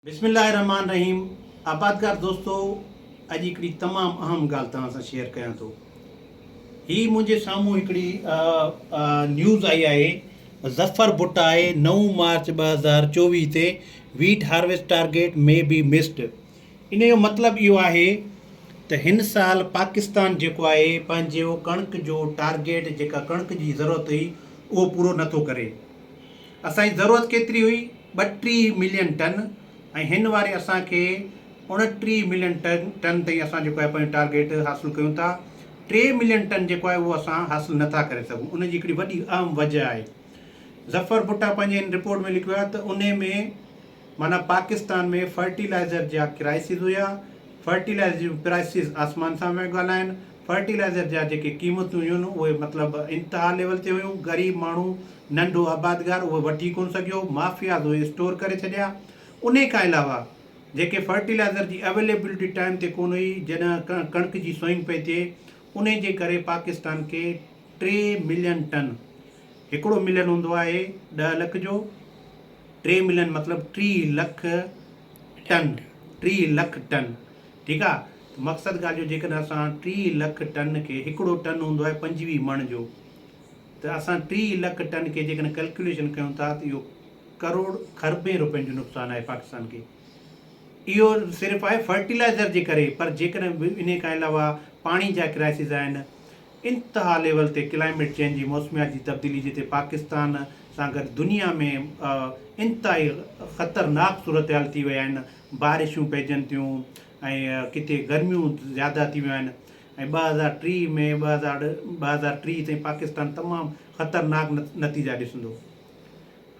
بسم الله الرحمٰن الرحيم آبادگار دوستو اڄ هڪڙي تمام اهم ڳالهه توهان سان شيئر ڪيان ٿو هي منهنجي سامهون هڪڙي نيوز آئي آهي ظفر بٽ آهي نو مارچ ٻه هزار چوويهه تي wheat harvest target may be missed ان جو مطلب اهو آهي ته هن سال پاڪستان جيڪو آهي پنهنجو ڪڻڪ جو ٽارگيٽ جيڪا ڪڻڪ جي ضرورت هئي اهو پورو نٿو ڪري اسان جي ضرورت ڪيتري هئي؟ ٻٽيهه ملين ٽن ۽ هن واري اسان کي اڻٽيهه ملين ٽن تائين اسان جيڪو آهي پنهنجو ٽارگيٽ حاصل ڪيون ٿا. ٽي ملين ٽن جيڪو آهي اهو اسان حاصل نه ٿا ڪري سگهون ان جي هڪڙي وڏي اهم وجه آهي. ظفر ڀٽا پنهنجي ان رپورٽ ۾ لکيو آهي ته انهي ۾ معنيٰ پاڪستان ۾ فرٽيلائزر جا ڪرائسز هيا، فرٽيلائزر جون پرائسز آسمان سان پيا ڳالهائن، فرٽيلائزر جا جيڪي قيمتون هيون اهي مطلب انتها ليول تي هيون، غريب ماڻهو ننڍو آبادگار اهي وٺي ڪونه سگهيو، مافياز اهي اسٽور ڪري ڇڏيا، انهي کان علاوه جيڪي فرٽيلائزر جي اويليبلٽي ٽائيم تي ڪونه هئي جڏهن ڪڻڪ جي سوئنگ پئي ٿئي انهي جي ڪري پاڪستان کي ٽي ملين ٽن هڪڙو ملين هوندو آهي ڏهه لک جو، ٽي ملين مطلب ٽيهه لک ٽن، ٽيهه لک ٽن ٺيڪ آ ته مقصد ڳالهه جو جيڪڏهن اسان ٽيهه لک ٽن کي هڪڙو ٽن هوندو آهي پنجويهه مڻ جو ته اسان ٽيهه لک ٽن کي جيڪڏهن ڪلڪيوليشن ڪيون ٿا ته اهو ڪروڙ کربين روپين جو نقصان آهي پاڪستان کي اهو صرف آهي فرٽيلائزر جي ڪري پر جيڪڏهن انهي کان علاوه پاڻي جا ڪرائسز آهن انتها ليول تي ڪلائميٽ چينج جي موسميات جي تبديلي جتي پاڪستان سان گڏ دنيا ۾ انتهائي خطرناڪ صورتحال ٿي وئي آهن بارشون پئجن ٿيون ۽ ڪٿي گرميون زياده ٿي ويون آهن ۽ ٻه هزار ٽيهه ۾ ٻه هزار ٽيهه تائين پاڪستان تمام خطرناڪ نتيجا ڏسندو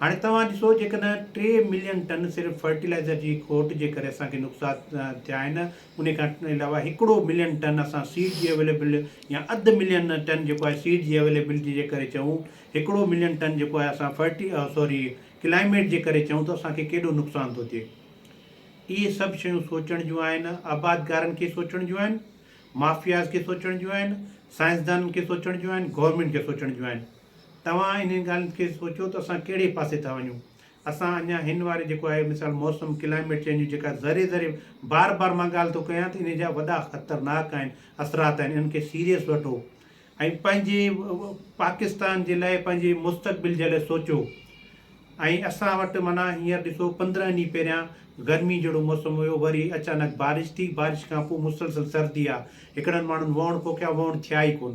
هاڻي توهان ڏسو جيڪڏهن ٽي ملين ٽن صرف فرٽيلائزر جي کوٽ جي ڪري اسان کي نقصا ٿيا آهن انهي کان علاوه هڪڙو ملين ٽن اسان سيڊ جي اويليبل يا اڌ ملين ٽن جيڪو آهي سيڊ جي اويليبلٽي جي ڪري چئون هڪڙو ملين ٽن جيڪو آهي اسان فرٽي سوري ڪلائميٽ جي ڪري چئون ته اسان کي ڪيڏو نقصان ٿو ٿئي اهي سڀ شيون سوچڻ جون آهن آبادگارن کي سوچڻ جون آهن مافياز کي سوچڻ جون آهن سائنسدانن کي سوچڻ جون آهن گورنمينٽ کي سوچڻ جون آهن توهان انهن ڳالهين کي سوچيو ته اسان ڪهڙي پاسي ٿا وڃون. اسان اڃا هن واري جيڪو آهي مثال موسم، Climate Change، جيڪا ذري ذري بار بار مان ڳالهه ٿو ڪيان ته انهي جا وڏا خطرناڪ آهن اثرات آهن انهن کي سيريس وٺو ۽ پنهنجي پاڪستان جي لاء پنهنجي مستقبل جي لاء سوچيو ۽ اسان وٽ معنيٰ هينئر ڏسو پندرهن ڏينهن پهريان گرمي جهڙو موسم هيو وري اچانڪ بارش ٿي بارش کان پوء مسلسل سردي آ هڪڙن ماڻهن وهڻ پوکيا وهڻ ٿيا ئي ڪون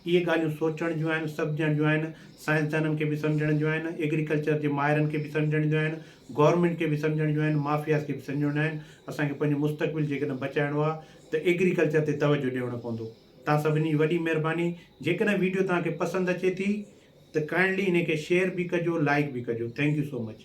اهي ڳالهيون سوچڻ جون آهن، سمجهڻ جون آهن، سائنسدانن کي به سمجهڻ جون آهن، ايگريڪلچر جي ماهرن کي به سمجهڻ جون آهن، گورنمينٽ کي به سمجهڻ جون آهن، مافياز کي به سمجهڻ جون آهن، اسان کي پنهنجو مستقبل جيڪڏهن بچائڻو آهي ته ايگريڪلچر تي توجهه ڏيڻو پوندو. توهان سڀني جي وڏي مهرباني، جيڪڏهن ويڊيو توهان کي پسند اچي ٿي ته ڪائنڊلي انهي کي شيئر به ڪجو، لائيڪ به ڪجو. Thank you so much.